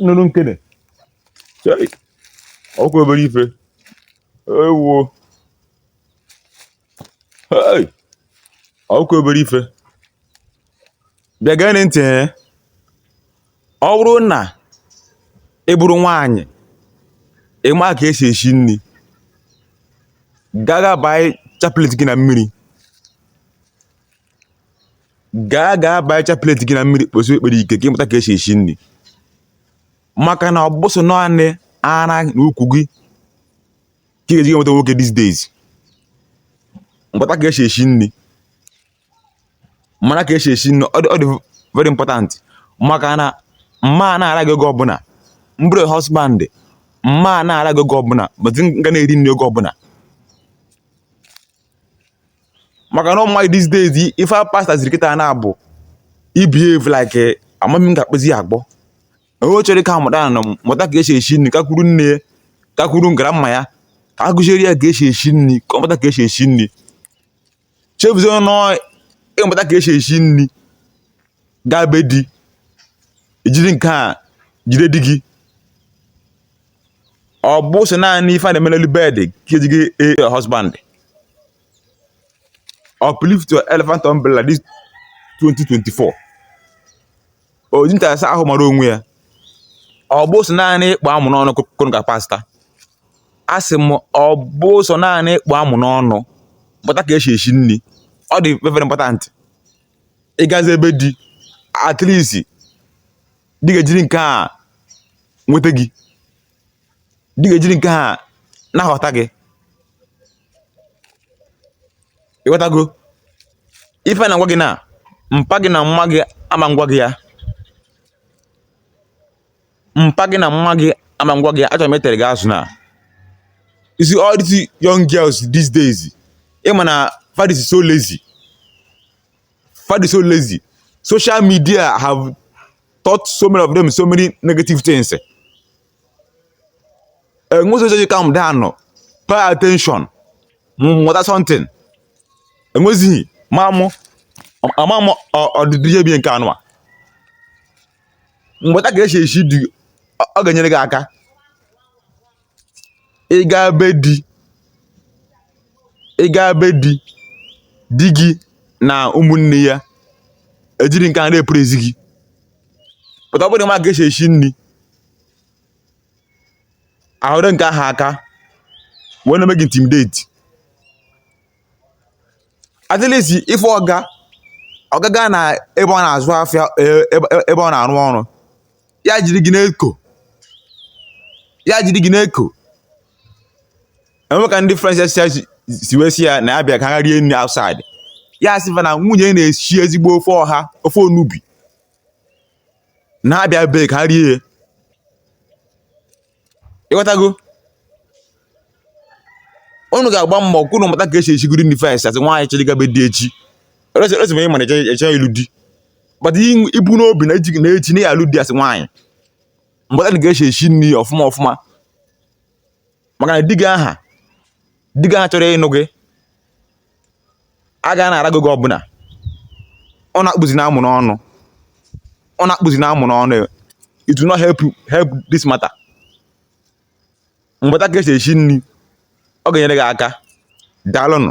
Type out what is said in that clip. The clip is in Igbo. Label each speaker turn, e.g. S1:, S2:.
S1: nụrụ nkene ọkwa obere ife ewo ọkwa obere ife bịa gee ntị eh. ọ bụrụ na ị bụrụ nwaanyị ịma ka esi esi nri gaa gaa baa chaplet gị na mmiri gaa gaa baa chaplet gị na mmiri kpesie ekpere ike ka ịmụta ka esi esi nri maka na ọ bụ sọ naanị ara na ukwu gị ka ị ga-eji enweta nwoke these days mụta ka esi esi nri mara ka esi esi nri ọ dị ọ dị very important maka na m ma na-ara gị oge ọbụla m bụrụ husband m ma na-ara gị oge ọbụla but m ga na-eri nri oge ọbụla maka na ụmụnwaanyị these days ife a pasta ziri kịta na-abụ ibehave like amami m ga-akpụzi ya agbọ onye chọrọ ka mụta na mụta ka esi esi nri gakwuru nne ya gakwuru grandma ya ka a kuziere ya ka esi esi nri ka ọ mụta ka esi esi nri chefuzie ọnụ ịmụta ka esi esi nri gaa be di i jiri nke a jide di gị ọ bụ sọ naanị ife a na-eme n'elu bed ka eji ejide your husband uplift your elephant umbrella this 2024 oji ntarasa ahụ mara onwe ya ọ bụ sọ naanị ịkpụ amụ n'ọnụ kụrụ ka pasta a sị m ọ bụ sọ naanị ịkpụ amụ n'ọnụ mụta ka esi esi nri ọ dị very important ịgazi ebe di at least di ga-ejiri nke a nweta gị di ga-ejiri nke a na-aghọta gị ịghọtago ife m na-agwa gị na mpa gị na mma gị ama agwa gị ya mpa gị na mma gị ama agwa gị ya achọrọ m etere gị azụ na you see all these young girls these days ịma na fa dịzi so lazy fa dị so lazy social media have taught so many of them so many negative things enwe so ji calm down pay attention mụta something enwezighị ma mụ ama m ọdịdị ihe bi nke anụwa mụta ka esi esi nri ọ ga-enyere gị aka ịga be di ịga be di di gị na ụmụnne ya ejiri nke a na-epụrụ ezi gị pụta ọ bụrụ ị ma ka esi esi nri ahụrụ nke ahụ aka wee na-eme gị intimidate at least ife ọ ga ọ ga gaa na ebe ọ na-azụ afịa e- ebe ebe ọ na-arụ ọrụ ya jiri gị na-eko ya jiri gị na-eko e nwee ka ndị friends si si- si wee sị ya na ya bịa ka ha rie nri outside ya sị fa na nwunye na-esi ezigbo ofe ọha ofe onugbu na ha bịa be ya ka ha rie ya ịghọtago unu ga-agba mbọ ka unu mata ka esi esigodi nri first as nwaanyị chọrọ ịga be di echi resi ma ị mana eche ịlụ di but i bu n'obi na eji na echi na ya alụ di as nwaanyị mata ka esi esi nri ọfụma ọfụma maka na di gị aha di gị aha chọrọ ịnụ gị a ga na-ara gị oge ọbụla ọ na-akpụzi na amụ n'ọnụ ọ na-akpụzi na amụ n'ọnụ it will not help help this matter mata ka esi esi nri ọ ga-enyere gị aka daalụnụ